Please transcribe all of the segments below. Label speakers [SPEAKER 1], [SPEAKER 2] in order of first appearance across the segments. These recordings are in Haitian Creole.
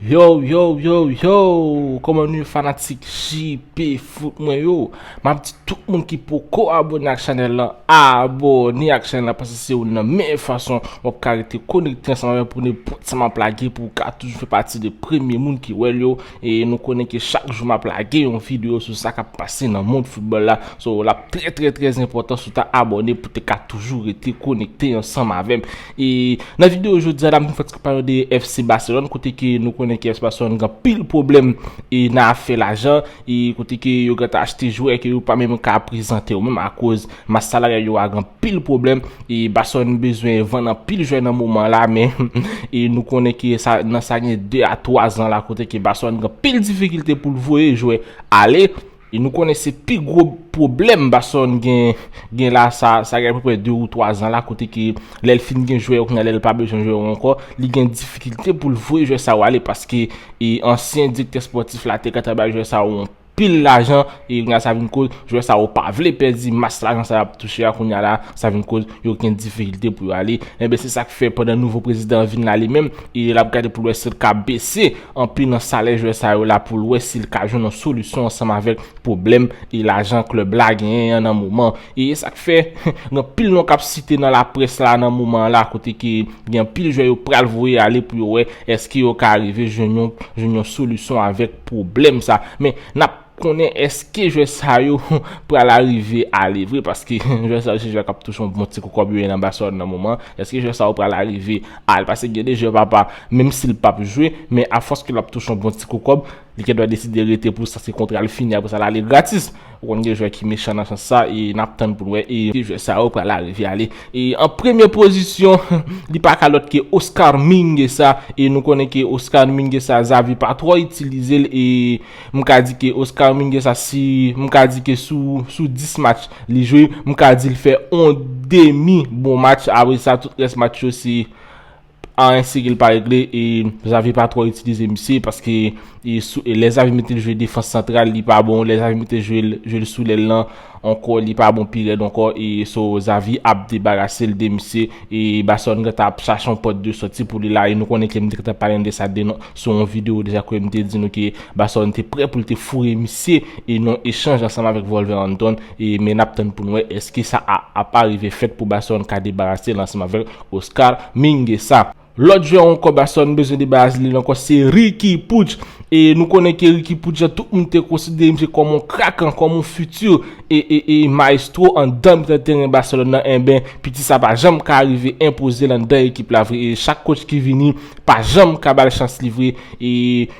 [SPEAKER 1] Yow yow yow yow Koman nou ye fanatik JP foot mwen yo. Map di tout moun ki poko abone ak chanel lan abone ak chanel lan paske se youn nan meyè fason wap ka rete konekte ansanm avèm pou nenpòt sa map lage pou ka toujou fè pati de premye moun ki wèl yo e nou konnen ke chak jou map lage yon video sou sa kap pase nan mond foutbòl la so lap trè trè trè enpòtan sou ta abone pou te ka toujou rete konekte ansanm avèm e nan video jodia la m fè ti pale de FC Barcelone kote ke nou konnen ke FC Barcelone gen pil pwoblèm e nan afè lajan. e kote ke yo gentan achte jwè ke yo pa menm ka prezante yo menm akoz mas salaryal yo a gen anpil pwoblèm e Barcelone bezwen vann anpil jwè nan moman la men e nou konnen ke sa nan sa gen 2 a 3 zan la kote ke Barcelone gen anpil difikilte pou l voye jwè ale e nou konnen se pi gwo pwoblèm Barcelone gen gen la sa sa gen apeprè 2 ou 3 zan la kote ke lè l fin gen jwè yo kounye a lè l pa bezwen jwè yo ankò li gen difikilte pou l voye jwè sa yo ale paske E ansyen direktè spòtif la te gentan bay jwè sa yo yon pil lajan e kounye sa vin koz jwè sa yo pa vle pèdi mas lajan sa yo ap touche a kounye la sa vin koz yo gen difikilte pou yo ale enben se sak fè pandan nouvo prezidan an vin la li menm e lap gade poul wè sil ka bese anpil nan salè jwè sa yo la poul wè sil ka jwenn yon solisyon ansanm avèk pwoblèm e lajan klèb la genyen an nan moman E sa k fè, gen anpil non k ap site nan laprès la nan moman an la kote ke gen anpil jwè yo pral voye ale pou yo wè èske yo ka arive jwenn yon jwenn yon solisyon avèk pwoblèm sa. Men, n ap konnen èske jwè sa yo pral arive ale vre paske jwè sa yo se jwè k ap touche yon bon ti kou kòb yo ye nan Baselòn nan moman an. Èske jwè sa yo pral arive al pase gen de jwè papa menm si l pap jwe men afòs ke l ap touche yon bon ti kou kòb Li gen dwa deside rete pou sa se kontra l fini apresa l ale gratis. Ou konn gen jwè ki mechan nan sans sa e nap tann pou n wè e ki jwè sa yo pral arive ale. E an premye pozisyon li pa ka lòt ke Oscar Minguesa e nou konnen ke Oscar Minguesa Xavi pa twò itilize l e m ka di ke Oscar Minguesa si m ka di ke sou sou 10 match li jwe m ka di l fè on demi bon match apresa tout rès match yo se Anyen Siril pa regle e Xavi pa twò itilize misye paske lè Xavi metel jwe defans santral li pa bon lè Xavi metel jwel sou lèl lan ankò li pa bon pi rèd ankò e so Xavi ap debarasel de misye e Barcelone gentan ap chache yon pòt de sòti pou li la e nou konnen ke m te gentan pale nou de sa sou yon video deja kote m te di nou ke Barcelone te prè poul te foure misye e nan yon echanj ansanm avèk Wolverhampton e men nap tann poun wè eske sa a ap arive fèt pou Barcelone ka debarasel ansanm avèl. Oscar Minguesa. Lòt jwè on kòb aswè nou bezwen debarase de li ankò se Ricky Puig e nou konnen ke Ricky Puig la tout moun te konsidere misye kòm on krak an, kòm on futur e e e maestro andan mitan teren Barcelone nan enben piti sa pa janm ka rive enpoze l andan ekip la vre e chak coach ki vini pa janm ka ba l chans li vre e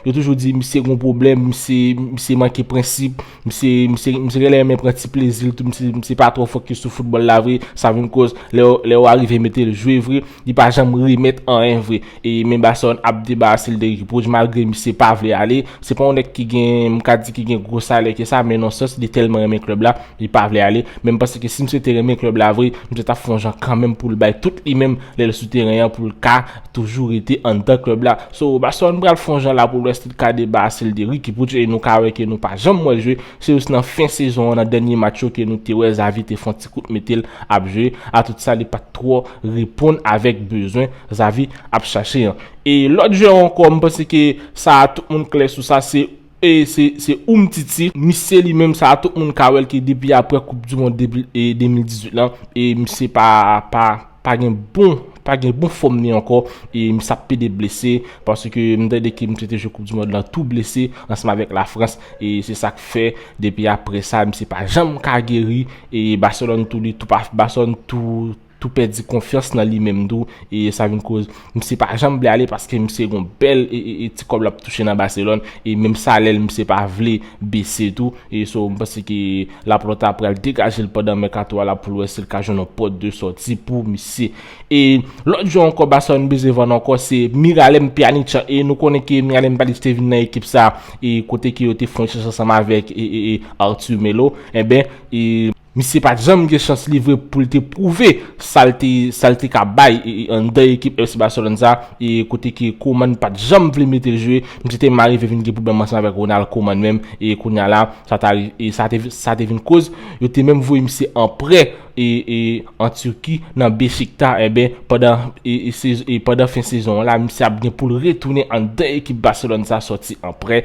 [SPEAKER 1] yo toujou di misye gen on pwoblèm, misye misye manke prensip. Misye genlè renmen pran ti plezi l tou misye pa twò fokis sou foutbòl la vre sa vin koz lè yo arive mete l jwe vre li pa janm remèt anyen vre e men Barcelone ap debarase l de Ricky Puig malgre misye pa vle ale se pa yon nèg ki gen m ka di ki gen gwo salè ke sa men nan sans li tèlman renmen klèb la li pa vle ale men m panse ke si misye te renmen klèb la vre misye t ap fè yon jan kanmenm pou l bay tout li menm lè l sou teren an pou l ka toujou rete anndan club la so Roberson pral fon jan la pou lwès li ka deba a sil te Ricky Puch e nou ka wè ke nou pa janm wèl jwe se jis nan fen sezon an nan dènye match yo ke nou te wè Xavi te fon ti kout metel ap jwe atout sa li pat twò reponn avèk bezwen Xavi ap chache an e lòt jwè ankò m panse ke sa a tout moun klè sou sa se E se se Umtiti, misye li menm sa tout moun ka wè l ke depi aprè koup du mond 2018 lan e misye pa pa pa gen bon pa gen bon fòm li ankò e misye ap pede blese paske m tande ke misye te jwe koup du mond lan tou blese ansanm avèk la Frans e se sa k fè depi aprè sa misye pa janm ka geri e Barcelone tou li tou pa Barcelone tou tou pèdi konfyans nan li menm tou e sa vin koz misye pa janm vle ale paske misye gon bèl e ti kòb lap touche nan Barcelone e menm salèl misye pa vle bese tou e so m panse ke Laporta pral degajel pandan mèkato a la poul wè sil ka jwenn yon pòt de sòti pou misye e lòt jwè ankò Barcelone beze vann ankò se Miralem Pjanic e nou konnen ke Miralem Pjanic te vin nan ekip sa e kote ke yo te fon chèche ansanm avèk e Arthur Melo enben e. Misye pat janm gen chans li vre pou l te pwouve sa l te sa l te ka bay anndan ekip FC Barcelone sa kote ke Koeman pat janm vle mete l jwe misye tèlman rive vin gen pwoblèm ansanm avèk Ronald Koeman menm e kounya la sa ta sa te vin koz yo te menm voye misye an prè an Turquie nan Beşikta enben pandan pandan fen sezon an la misye ap gen pou l retounen anndan ekip Barcelone sa sòti an prè.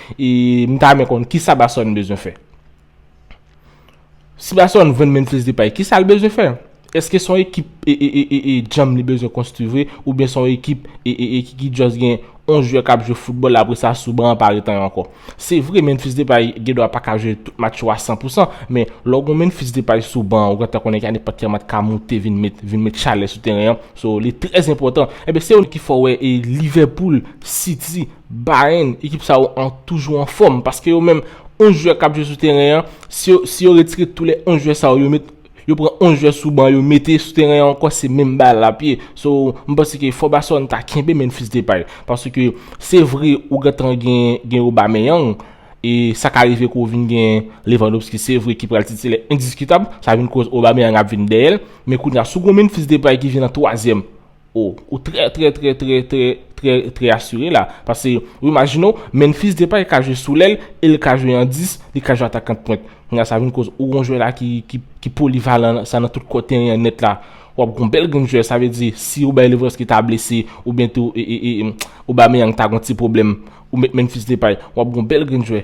[SPEAKER 1] E m ta renmen konn kisa Bason bezwen fè? Si Bason vann Memphis Depay, kisa l bezwen fè? Eske son ekip e djanm li bezwen konstwi vre oubyen son ekip e ki just gen on jwè k ap jwe foutbòl apre sa sou ban an pa ret anyen ankò? Se vre Memphis Depay gen dwa pa ka jwe tout match yo a san pou san, men lè w gen on Memphis Depay sou ban an ou gentan konnen ke nenpòt ki lè match ka moute vin met vin met chalè sou teren an, so li trèzenpòtan. Enben se yo ki fè w wè e Liverpool, City, Bayern, ekip sa yo an toujou an fòm paske yo menm 11 jwè kap jwe sou teren an, si yo retire tou lè 11 jwè sa yo, yo pran 11 jwè sou ban yo mete sou teren an ankò se menm bagay lap ye. So, m panse ke fò Barcelone ta kenbe Memphis Depay paske se vre ou gentan gen Aubameyang e sa ka rive ke w vin gen Lewandowski se vre ki pral titilè endiskitab, sa vin koz Aubameyang ap vin dèyè l, men kounya si w gen yon Memphis Depay ki vin an twazyèm, Oh ou trè trè trè trè trè trè trè asire la pase ou imajine w Memphis Depay ka jwe sou lèl e l ka jwe an 10 li ka jwe atakan pwent kounye a sa vin koz ou gon jwè la ki ki polivalan sa nan tout kò teren an nèt la w ap gon bèl grenn jwè sa vle di si ou bay Lewandowski ta blese oubyen tou Aubameyang ta gon ti pwoblèm ou met Memphis Depay w ap gon bèl grenn jwè.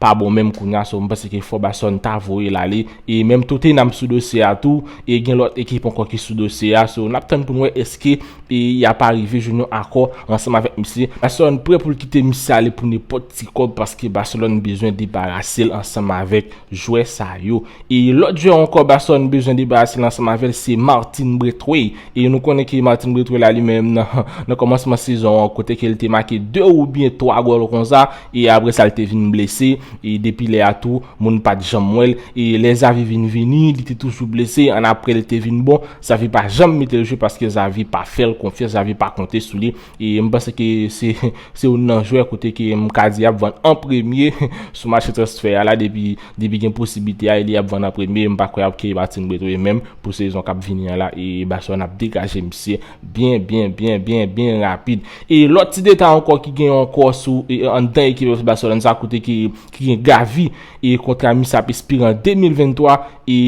[SPEAKER 1] pa bon menm kounya so m panse ke fò Basson ta voyel ale e menm Tottenham sou dosye a tou e gen lòt ekip ankò ki sou dosye a so nap tann poun wè eske e yap arive jwenn yon akò ansanm avèk misye Basson prè poul kite misye ale pou nenpòt ti kòb paske Barcelone bezwen debarasel ansanm avèk jwè sa yo e lòt jwè ankò Basson bezwen debarasel ansanm avèl se Martin Braithwaite e nou konnen ke Martin Braithwaite la li menm nan kòmansman sezon an kote ke li te make 2 oubyen 3 gòl konsa E apre sa l te vin blese, e depi lè a tou, moun pa t janm wè l. E lè Xavi vin vini, li te toujou blese, annapre l te vin bon. Xavi pa janm mete l jwe paske Xavi pa fè l konfyans, Xavi pa konte sou li. E m panse ke se se youn nan jwè kote ke m ka di y ap vann an premye sou mache transfè a la depi depi gen posiblite a e li ap vann an premye. M pa kwè y ap keyi Martin Braithwaite menm pou sezon k ap vini an la e Barcelone ap degaje misye. Byen, byen, byen, byen, byen rapid. E lòt ti detay ankò ki gen yon kò sou anndan ekip FC Barcelone sa kote ki gen Gavi e kontra misye ap espire an 2023 e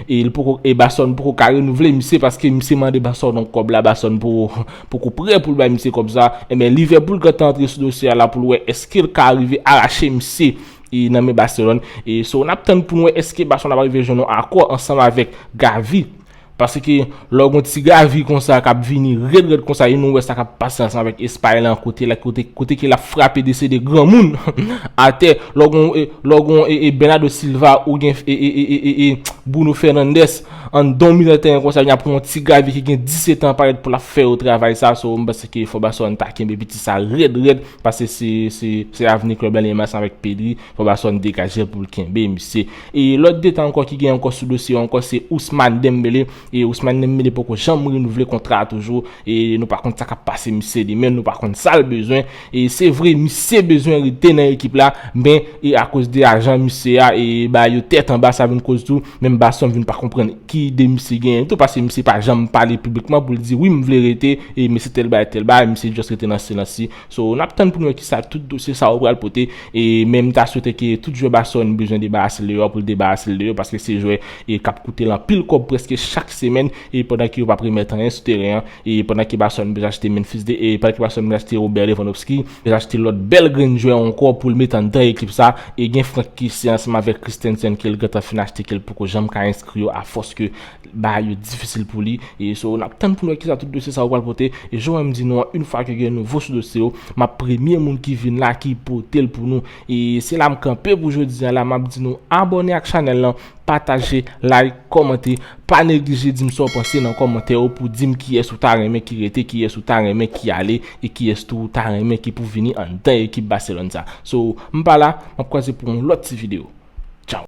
[SPEAKER 1] e li poko e Barcelone poko ka renouvle misye paske misye mande Barcelone yon kòb la Barcelone poko poko prè pou l bay misye kòb sa enben Liverpool gentan antre sou dosye a la pou l wè eske l ka rive arache misye e nan men Barcelone e so n ap tann pou n wè eske Barcelone ap rive jwenn yon akò ansanm avèk Gavi. Paske lè w gen yon ti gavi konsa k ap vini rèd rèd konsa e nou wè sa k ap pase ansanm avèk espay lan kote la kote ke l ap frape de se de granmoun atè lè w gen yon lè w gen yon e e Bernado Silva ou gen e e e e e Bruno Fernandes anndan yon mitan tèren konsa ya pou yon ti gavi ki gen 17 an parèt pou l ap fè yo travay sa so m panse ke fò Barcelone ta kenbe piti sa rèd rèd paske se se se avni klèb la li menm ansanm avèk Pedri fò Barcelone degaje l pou l kenbe misye. E lòt detan ankò ki gen ankò sou dosye yo ankò se Ousmane Dembele, e Ousmane Dembele poko janm renouvle kontra a toujou, e nou pa konn sa kap pase misye demen, nou pa konn sal bezwen, e se vre misye bezwen rete nan ekip la, men e akoz de ajan misye a e ba yo tèt anba sa vin koz tou, menm Basson vin pa konprann ki ide misye genyen tou paske misye pa janm pale piblikman poul di wi m vle rete e mesye tèl bagay tèl bagay, misye just rete nan silans li. So nap tann pou nou wè kisa tout dosye sa yo pral pote e men m ta swete ke tout jwè Barcelone bezwen debarase l de yo pou l debarase l de yo paske se jwè e kap koute l anpil kòb prèske chak semèn e pandan ke yo pap remèt anyen sou teren an e pandan ke Barcelone bezwen achte Memphis de e pandan ke Barcelone bezwen achte Robert Lewandowski bezwen achte lòt bèl grenn jwè ankò pou l met anndan ekip sa e gen Franck Kessy ansanm avèk Christensen ke l gentan fin achte ke l poko janm ka enskri yo a fòs ke Bagay yo difisil pou li. E so nap tann pou nou wè kisa tout dosye sa yo pral pote. E jan w wè m di nou an, yn fwa ke gen nouvo sou dosye yo, map premye moun ki vin la ki pote l pou nou. E se la m kanpe pou jodi an la, map di nou abòne ak chanèl lan, pataje, like, kòmante. Pa neglije di m sa w panse nan kòmantè yo pou di m kiyès ou ta renmen ki rete, kiyès ou ta renmen ki ale, e kiyès tou ou ta renmen ki pou vini anndan ekip Barcelone sa. So m pa la, map kwaze pou yon lòt ti video. Tchaw!